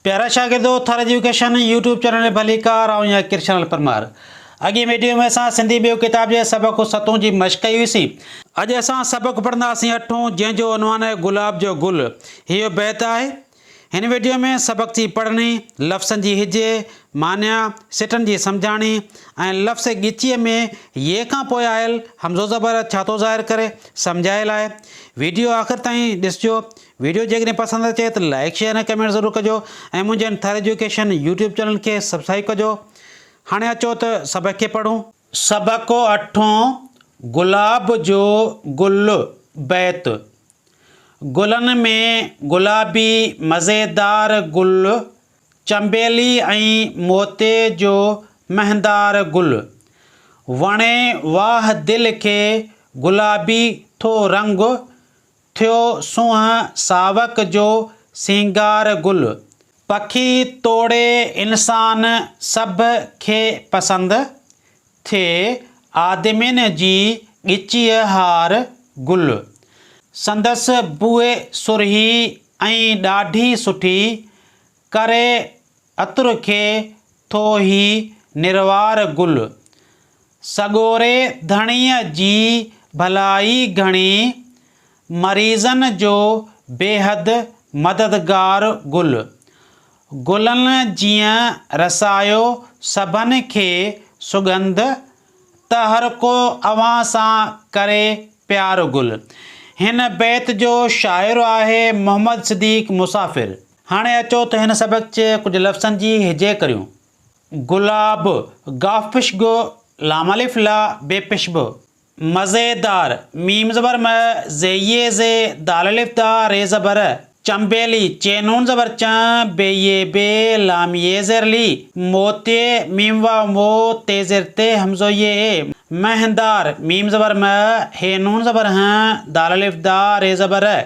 پيارا شاگردو Thar education YouTube channel ڀليڪار آئون يا ڪرشنل پرمار اڳين ويڊيو ۾ اسان سنڌي ٻيو ڪتاب جي سبق ستون جي مشق ڪئي هئي سين اڄ اسان سبق پڙهنداسين اٺون جنهن جو عنوان آهي گلاب جو گل هيو بيت آهي هن ويڊيو ۾ سبق جي پڙهڻي لفظن جي هجي معنيٰ سٽن جي سمجهاڻي ۽ لفظ ڳچيء ۾ يي کان پوء آيل همزو زبر ڇا ٿو ظاهر ڪري سمجهايل آهي ويڊيو آخر تائين ڏسجو ويڊيو جيڪڏهن پسند اچي ته لائيڪ شيئر ۽ ڪمينٽ ضرور ڪجو ۽ منهنجي ان ٿر ايجوڪيشن يوٽيوب چينل کي سبسڪرائيب ڪجو هاڻي اچو ته سبق کي پڙهون. سبق اٺون گلاب جو گل بيت گلن ۾ گلابي مزيدار گل چنبيلي ۽ موتي جو مهندار گل وڻي واهه دل کي گلابي ٿو رنگ ٿيو سونهن ساوڪ جو سينگار گل. پکي توڙي انسان سڀ کي پسند ٿئي آدمين جي ڳچيء هار گل. سندس بوء سرهي ۽ ڏاڍي سٺي، ڪري عطر کي ٿو هي نروار گل. سڳوري ڌڻيء جي ڀلائي گهڻي، مريضن جو بيحد مددگار گل. گلن جيئن رسايو سڀن کي سڳنڌ، ته هرڪو اوهان سان ڪري پيار گل. هن بيت جو شاعر آهي محمد صديق مسافر. هاڻي اچو ته هن سبق جي ڪجهه لفظن جي هجي ڪريون. گلاب، گاف پش گ، لام الف لا، بي پش ب، مزيدار، ميم زبر م، زي يي زي، دال الف دا، ري زبر ر، چنبيلي، چين نون زبر چن، بي يي بي، لام يي زير لي، موتي، ميم واو مو، تي زير تي، همزو يي اي، مهندار، ميم زبر م، هي نون زبر هن، دال الف دا، ري زبر ر،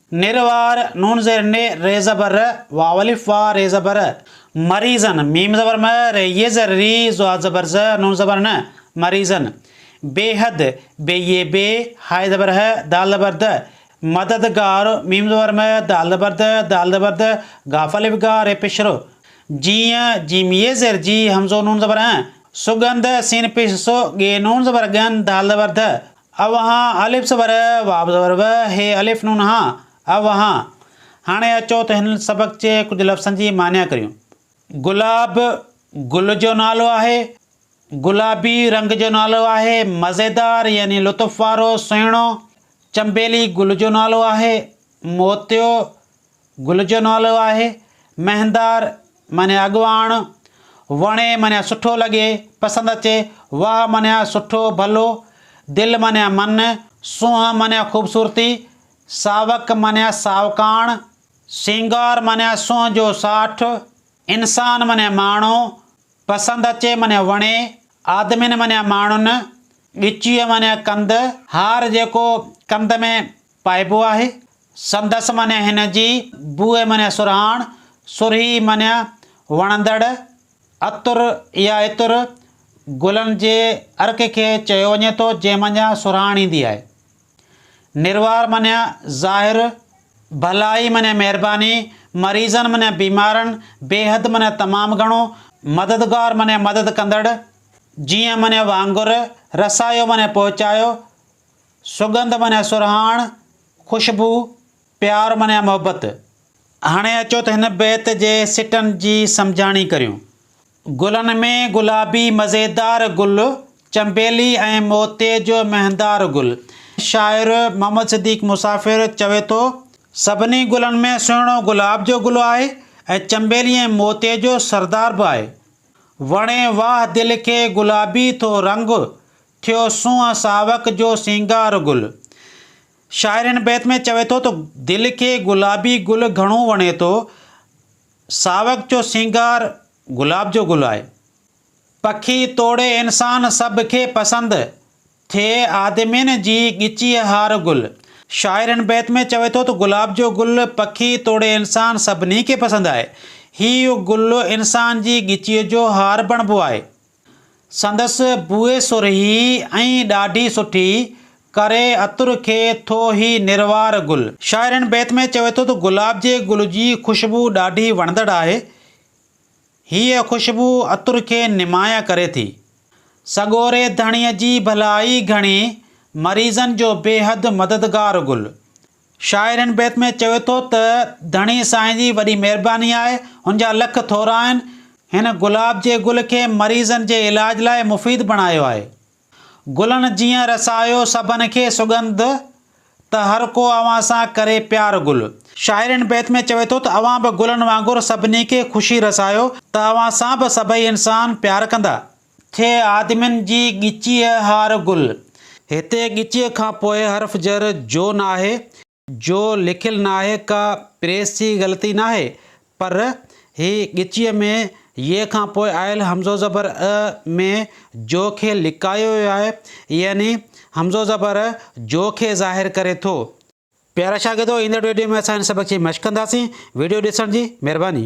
نر وار نون زير ن ر زبر ر واولف وا ر زبر ر مريضن م زبر م ر ي زر ري ض زبر ض ن زبر ن مريضن بيحد ب ي بي ه زبر ه د زبر د مدد گار م زبر م د زبر د د زبر د غافلف غا ر پش ر جي ي ج ي زر جي همزو ن زبر ن سڳنڌ س ن پش س ڳي ن زبر ڳن د زبر ڌ اوهان الف زبر ا، واو زبر و، هي الف نون هان، اوهان. هاڻي اچو ته هن سبق جي ڪجهه لفظن جي معني ڪريون. گلاب، گل جو نالو آهي. گلابي، رنگ جو نالو آهي. مزيدار يعني لطف وارو، سهڻو. چنبيلي، گل جو نالو آهي. موتيو، گل جو نالو آهي. مهندار معنيٰ اڳواڻ. وڻي معنيٰ سٺو لڳي، پسند اچي. واهه معنيٰ سٺو، ڀلو. دل معنيٰ من. سونهن معنيٰ خوبصورتي. ساوڪ معنيٰ ساوڪاڻ. سينگار معنيٰ سونهن جو ساٺ. انسان معنيٰ ماڻهو. پسند اچي معنيٰ وڻي. آدمين معنيٰ ماڻهن. ڳچيء معنيٰ ڪنڌ. هار جيڪو ڪنڌ ۾ پائبو آهي. سندس معنيٰ هن جي، بوء معنيٰ سرهاڻ، سرهي معنيٰ وڻندڙ، عطر يا عطر گلن جي عرق کي چيو وڃي ٿو جنهن منجهان سرهاڻ ايندي آهي. نروار معنيٰ ظاهر، ڀلائي معنيٰ مهرباني، مريضن معنيٰ بيمارن، بيحد معنيٰ تمام گهڻو، مددگار معنيٰ مدد ڪندڙ، جيئن معنيٰ وانگر، رسايو معنيٰ پهچايو، سڳنڌ معنيٰ سرهاڻ، خوشبو، پيار معنيٰ محبت. هاڻي اچو ته هن بيت جي سٽن جي سمجهاڻي ڪريون. گلن ۾ گلابي مزيدار گل، چنبيلي ۽ موتي جو مهندار گل. شاعر محمد صديق مسافر چوي ٿو. سڀني گلن ۾ سهڻو گلاب جو گل آهي ۽ چنبيلي ۽ موتي جو سردار به آهي. وڻي واهه دل کي گلابي ٿو رنگ، ٿيو سونهن ساوڪ جو سينگار گل. شاعر هن بيت ۾ چوي ٿو ته دل کي گلابي گل گهڻو وڻي ٿو. ساوڪ جو سينگار گلاب جو گل آهي. پکي توڙي انسان سڀ کي پسند ٿئي آدمين جي ڳچيء هار گل. شاعر هن بيت ۾ چوي ٿو ته گلاب جو گل پکي توڙي انسان سڀني کي پسند آهي. هي گل انسان جي ڳچيء جو هار بڻبو آهي. سندس بوء سرهي ۽ ڏاڍي سٺي، ڪري عطر کي ٿو هي نروار گل. شاعر هن بيت ۾ چوي ٿو ته گلاب جي گل جي خوشبو ڏاڍي وڻندڙ آهي. هيء خوشبو عطر کي نمايان ڪري ٿي. سڳوري ڌڻيء جي ڀلائي گهڻي، مريضن جو بيحد مددگار گل. شاعر هن بيت ۾ چوي ٿو ته ڌڻي سائين جي وڏي مهرباني آهي، هن جا لک ٿورا آهن، هن گلاب جي گل کي مريضن جي علاج لاء مفيد بڻايو آهي. گلن جيئن رسايو سڀن کي سڳنڌ، ته هر ڪو اوهان سان ڪري پيار گل. شاعر هن بيت ۾ چوي ٿو ته اوهان به گلن وانگر سڀني کي خوشي رسايو، ته اوهان سان به سڀئي انسان پيار ڪندا. کي آدمين جي ڳچيء هار گل. هتي ڳچيء کان پوء حرف جر جو ناهي، جو لکيل ناهي ڪا پريس جي غلطي ناهي پر هي ڳچيء ۾ يي کان پوء آيل همزو زبر ء ۾ جو کي لڪايو ويو آهي يعني همزو زبر جو کي ظاهر ڪري ٿو. پيارا شاگردو ايندڙ ويڊيو ۾ اسان هن سبق جي مشق ڪنداسين ويڊيو ڏسڻ جي مهرباني.